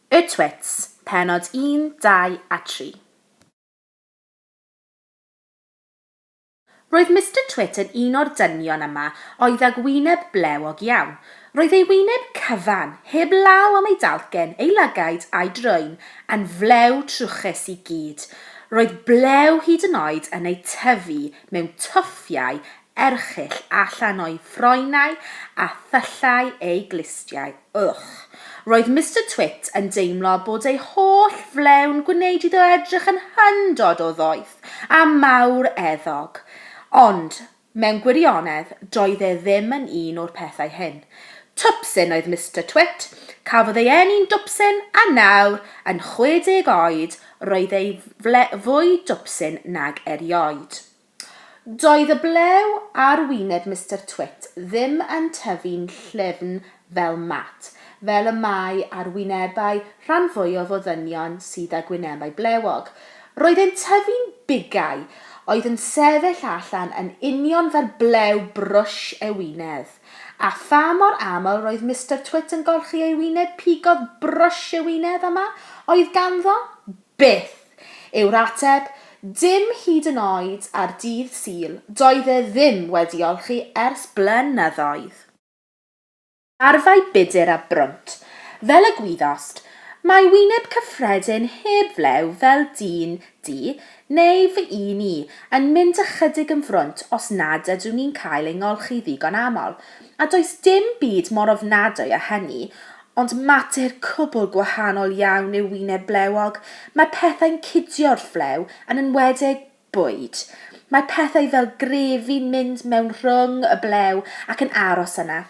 Y Twits, pennod 1, 2 a 3. Roedd Mister Twit yn un o'r dynion yma oedd ag wyneb blewog iawn. Roedd ei wyneb cyfan, heb law am ei dalcen, ei lygaid a'i drwyn, yn flew trwchus i gyd. Roedd blew hyd yn oed yn eu tyfu mewn twffiau erchyll allan o'i ffroenau a thyllau ei glustiau. Ych! Roedd Mister Twit yn deimlo bod ei holl flew'n gwneud iddo edrych yn hyndod o ddoeth a mawr eddog. Ond, mewn gwirionedd, doedd e ddim yn un o'r pethau hyn. Twpsyn oedd Mister Twit, cafodd ei eni'n dwpsyn, a nawr, yn 60 oed, roedd ei fle fwy dwpsyn nag erioed. Doedd y blew ar wyneb Mister Twit ddim yn tyfu'n llyfn fel mat, fel y mae ar wynebau rhan fwyaf o ddynion sydd â gwynebau blewog. Roedd e'n tyfu'n bigau, oedd yn sefyll allan yn union fel blew brwsh ewinedd. A pha mor aml roedd Mister Twit yn golchi ei wyneb pigodd brwsh ewinedd yma oedd ganddo? Byth! yw'r ateb, dim hyd yn oed ar Dydd Sul, doedd e ddim wedi olchi ers blynyddoedd. Arfau budur a brwnt, fel y gwyddost, mae wyneb cyffredin heb flew fel dyn du, neu fy un i, yn mynd ychydig yn frwnt os nad ydw ni'n cael ei ngolchi ddigon aml, a does dim byd mor ofnadwy â hynny, Ond mater cwbl gwahanol iawn yw wyneb blewog, mae pethau'n cidio wrth flew, yn enwedig bwyd. Mae pethau fel grefi'n mynd mewn rhwng y blew ac yn aros yna.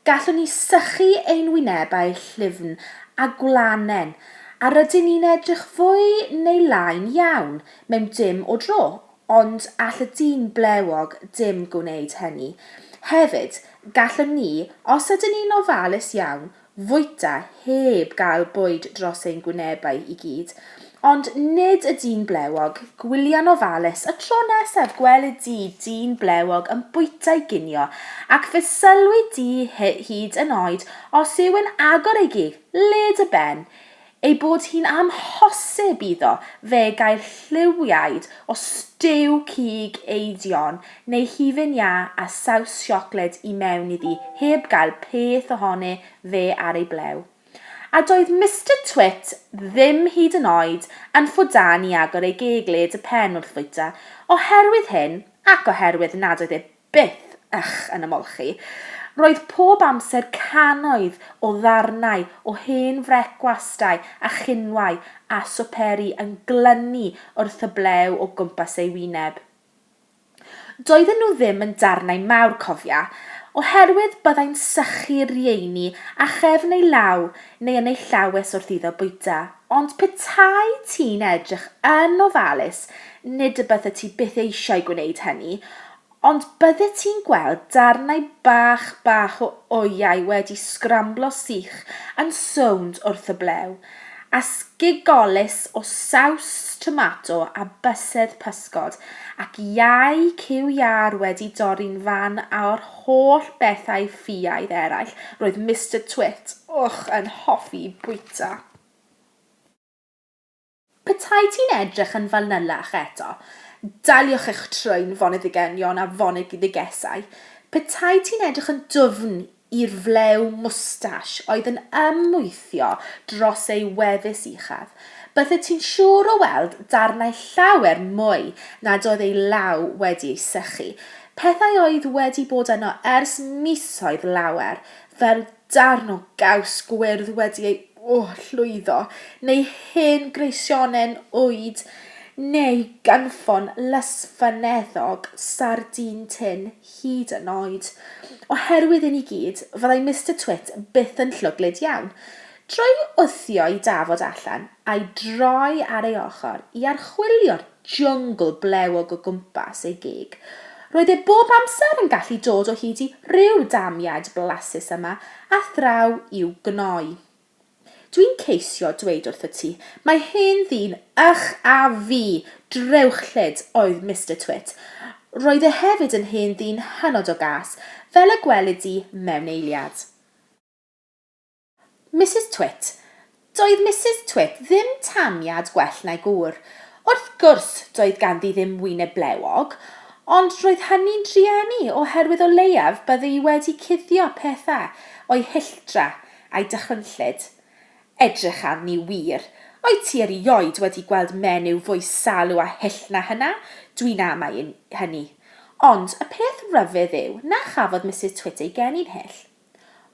Gallwn ni sychu ein wynebau llyfn a gwlanen, a rydyn ni'n edrych fwy neu lai'n iawn mewn dim o dro. Ond all y dyn blewog dim gwneud hynny. Hefyd, gallwn ni, os ydyn ni'n ofalus iawn, fwyta heb gael bwyd dros ein gwynebau i gyd. Ond nid y dyn blewog, gwylia'n ofalus, y tro nesaf gwelid di dyn blewog yn bwyta'i ginio, ac fe sylwi di hyd yn oed os yw'n agor ei gig, led y ben, Ei bod hi'n amhosib iddo fe gael lliwiaid o stiw cig eidion neu hufen iâ a saws siocled i mewn iddi heb gael peth ohoni fe ar ei blew. A doedd Mister Twit ddim hyd yn oed yn ffwdan i agor ei geg led y pen wrth fwyta, oherwydd hyn ac oherwydd nad oedd e Byth, ych, yn ymolchi. Roedd pob amser cannoedd o ddarnau o hen frecwastau a chinwau a swperi yn glynu wrth y blew o gwmpas ei wyneb. Doedden nhw ddim yn darnau mawr, cofia, oherwydd byddai'n sychu'r rheiny â chefn ei law neu yn ei llawes wrth iddo bwyta, ond petai ti'n edrych yn ofalus, nid y byddet ti byth eisiau gwneud hynny, Ond byddet ti'n gweld darnau bach bach o oiau wedi sgramblo sych yn sownd wrth y blew, a sgigolus o saws tomato a bysedd pysgod, ac iau cyw iâr wedi dorri'n fan a'r holl bethau ffiaidd eraill roedd Mister Twit, ych, yn hoffi bwyta. Petai ti'n edrych yn fanylach eto, daliwch eich trwyn foneddigeunion a foneddigesau, petai ti'n edrych yn dwfn i'r flew mwstash oedd yn ymwythio dros ei wefus uchaf, bydded ti'n siŵr o weld darnau llawer mwy nad oedd ei law wedi ei sychu, pethau oedd wedi bod yno ers misoedd lawer, fel darn o gaws gwyrdd wedi ei llwyddo, neu hen greisionen ŵyd, neu ganfon lysfyneddog sardîn tun hyd yn oed. Oherwydd hyn i gyd, fyddai Mister Twit byth yn llwglyd iawn. Drwy wthio i Dafod allan, a'i droi ar ei ochr i archwilio'r jyngl blewog o gwmpas ei gig. Roedd e bob amser yn gallu dod o hyd i ryw damiaid blasus yma a thraw i'w gnoi. Dwi'n ceisio dweud wrthyt ti, mae hen ddyn ych a fi! Drewchlyd oedd Mister Twit. Roedd e hefyd yn hen ddyn hynod o gas, fel y gwelid di mewn eiliad. Misus Twit, Doedd Misus Twit ddim taniad gwell na'i gŵr. Wrth gwrs, doedd ganddi ddim wyneb blewog, ond roedd hynny'n drueni oherwydd o leiaf byddi wedi cuddio pethau o'i hilltra a'i dychrynllyd. Edrych arni wir! Wyt ti erioed wedi gweld menyw fwy salw a hyll na hynna? Dwi'n amau hynny. Ond y peth ryfedd yw na chafodd Misus Twit ei geni'n hyll.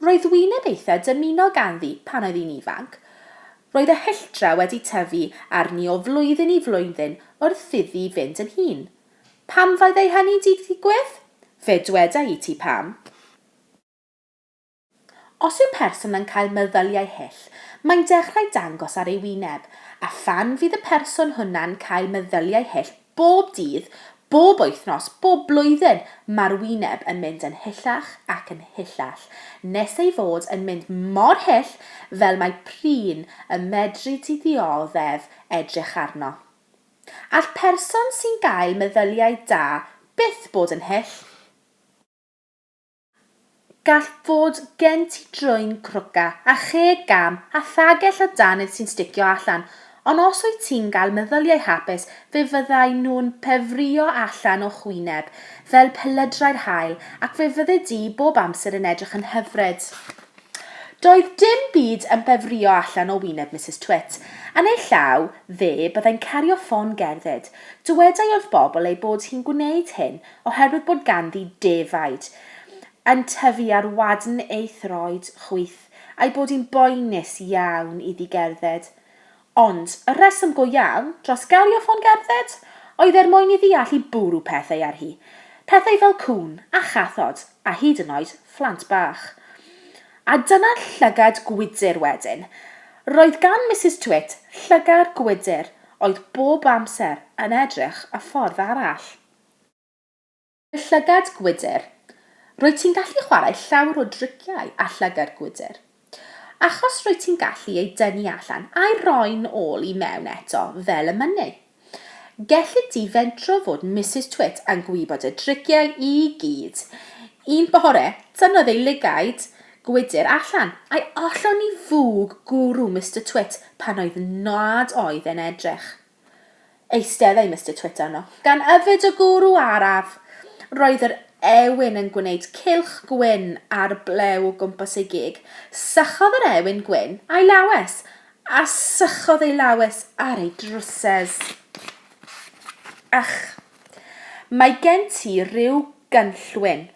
Roedd wyneb eitha dymunol ganddi pan oedd hi'n ifanc. Roedd y hylltra wedi tyfu arni o flwyddyn i flwyddyn wrth iddi fynd yn hŷn. Pam fyddai hynny 'di digwydd? Fe dweda i ti pam. Os yw person yn cael meddyliau hyll, mae'n dechrau dangos ar ei wyneb, a phan fydd y person hwnna'n cael meddyliau hyll, Bob dydd, bob wythnos, bob blwyddyn, mae'r wyneb yn mynd yn hyllach ac yn hyllach, nes ei fod yn mynd mor hyll fel mae prin y medri di ddioddef edrych arno. All person sy'n gael meddyliau da byth bod yn hyll. Gall fod gen ti drwyn crwca a cheg gam a thagell o danydd sy'n sticio allan, ond os wyt ti'n cael meddyliau hapus fe fyddaen nhw'n pefrio allan o'ch wyneb fel pelydrau'r haul ac fe fyddi di bob amser yn edrych yn hyfryd. Doedd dim byd yn pefrio allan o wyneb Misus Twit. Yn ei llaw fe byddai'n cario ffon gerdded. Dywedai wrth bobl ei bod hi'n gwneud hyn Oherwydd bod ganddi defaid yn tyfu ar wadn ei throed chwith, a'i bod hi'n boenus iawn iddi gerdded. Ond, y rheswm go iawn, dros gario ffon gerdded, oedd er mwyn iddi allu bwrw pethau ar hi. Pethau fel cŵn, a chathod, a hyd yn oed, phlant bach. A dyna llygad gwydr wedyn. Roedd gan Misus Twit llygad gwydr oedd bob amser yn edrych y ffordd arall. Llygad gwydr. Rwyt ti'n gallu chwarae llawer o driciau â llygad gwydr. Achos rwyt ti'n gallu ei dynnu allan a'i roi'n ôl i mewn eto fel y mynnu. Gelli di fentro fod Misus Twit yn gwybod y driciau i gyd. Un bore, tynnodd ei lygaid gwydr allan, a'i ollwng i fwg gwrw Mister Twit pan oedd nad oedd e'n edrych. Eisteddai Mister Twit arno, gan yfed o gwrw araf. Roedd yr ewyn yn gwneud cylch gwyn a'r blew o gwmpas ei gig. Sychodd yr ewyn gwyn a'i lawes, a sychodd ei lawes ar ei drwsys. Ych! Mae gen ti ryw gynllwyn,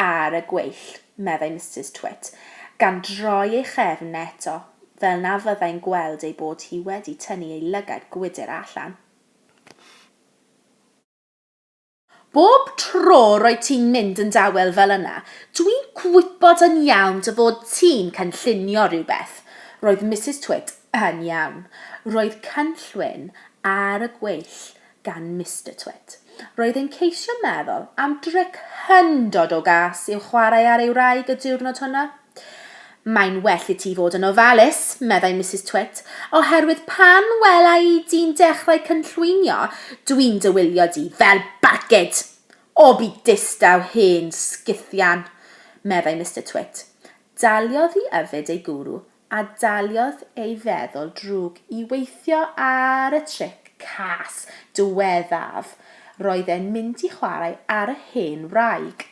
ar y gweill, meddai Misus Twit, gan droi ei chefn eto, fel na fyddai'n gweld ei bod hi wedi tynnu ei lygaid gwydr allan. Bob tro roedd ti'n mynd yn dawel fel yna, dwi'n gwybod yn iawn dy fod ti'n cynllunio rhywbeth. Roedd Misus Twit yn iawn. Roedd cynllwyn ar y gweill gan Mister Twit. Roedd e'n ceisio meddwl am dric hyndod o gas i'w chwarae ar ei wraig y diwrnod hwnna. Mae'n well i ti fod yn ofalus, meddai Misus Twit, oherwydd pan wela i di'n dechrau cynllwynio, dwi'n dy wylio di fel barcud! O, bu distaw hen sguthian! meddai Mister Twit. Daliodd i yfed ei gwrw a daliodd ei feddwl drwg i weithio ar y tric cas diweddaf, roedd e'n mynd i chwarae ar y hen wraig.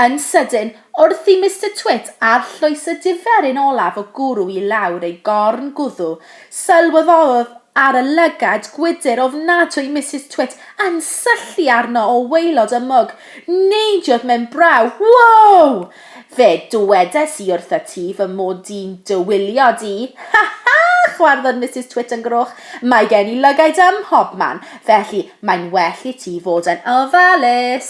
Yn sydyn, wrth i Mister Twit arllwyso diferyn olaf o gwrw i lawr ei gorn gwddw, sylweddolodd ar y lygad gwydr ofnadwy Misus Twit yn syllu arno o waelod y mwg. Neidiodd mewn braw. Wow! Fe dywedais i wrtha ti fy mod di'n dy wylio di! Ha ha! chwarddodd Misus Twit yn groch. Mae gen i lygaid ym mhobman, felly mae'n well i ti fod yn ofalus!